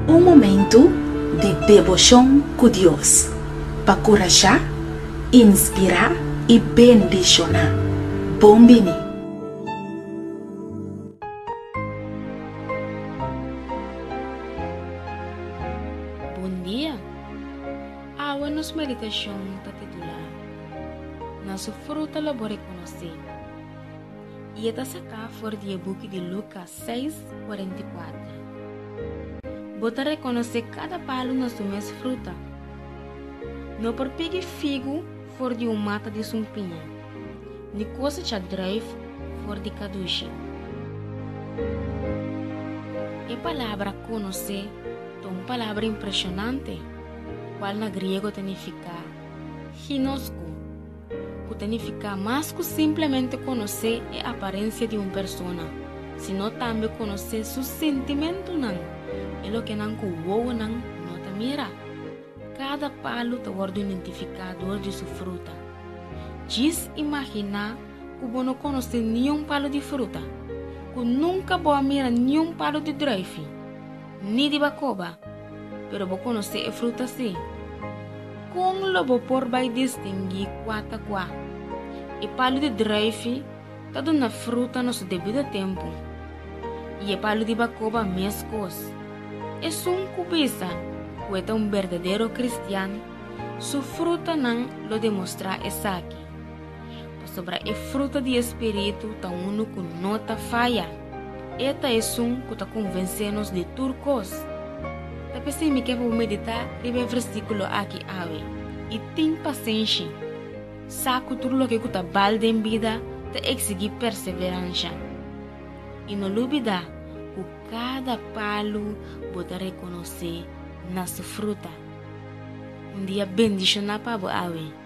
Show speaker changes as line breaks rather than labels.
Un momentu di deboshon ku Dios pa kurashá, inspirá i bendishoná. Bon bini!
Bon dia! Awe nos meditashon ta titulá. na su fruta lo bo rekonosé. I e ta saká for di e buki di Luka seis kuarenta i kuater. Bo ta rekonosé kada palu na su mes fruta. No por pigi figu for di un mata di sumpiña, ni kosecha druif for di kadushi. E palabra konosé ta un palabra impreshonante, kual na griego ta nifiká. Hinosku, ku ta nifiká mas ku simplemente konosé e aparensia di un persona, sino tambe konosé su sentimentunan, e loke nan ku wowonan no ta mira. Kada palu ta wòrdu identifiká dor di su fruta. Djis imaginá ku bo no konosé niun palu di fruta, ku nunka bo a mira niun palu di drùifi. Ni di bakoba, pero bo konosé e fruta sí. Kon lo bo por bai distinguí kua ta kua? E palu di draifi ta duna fruta na su debido tempu, i e palu di bakoba meskos. Esun ku bisa ku e ta un berdadero kristian, su frutanan lo demostrá esaki. pasobra e fruta di e Spiritu ta unu ku no ta faya. E ta esun ku ta konvensé nos di tur kos. Ta p'esei mi ke pa bo meditá riba e versíkulo akí awe i tin pasenshi. Sa ku tur loke ku ta bal den bida ta eksigí perseveransha. I no lubidá ku kada palu bo ta rekonosé na su fruta. Un dia bendishoná pa bo awe.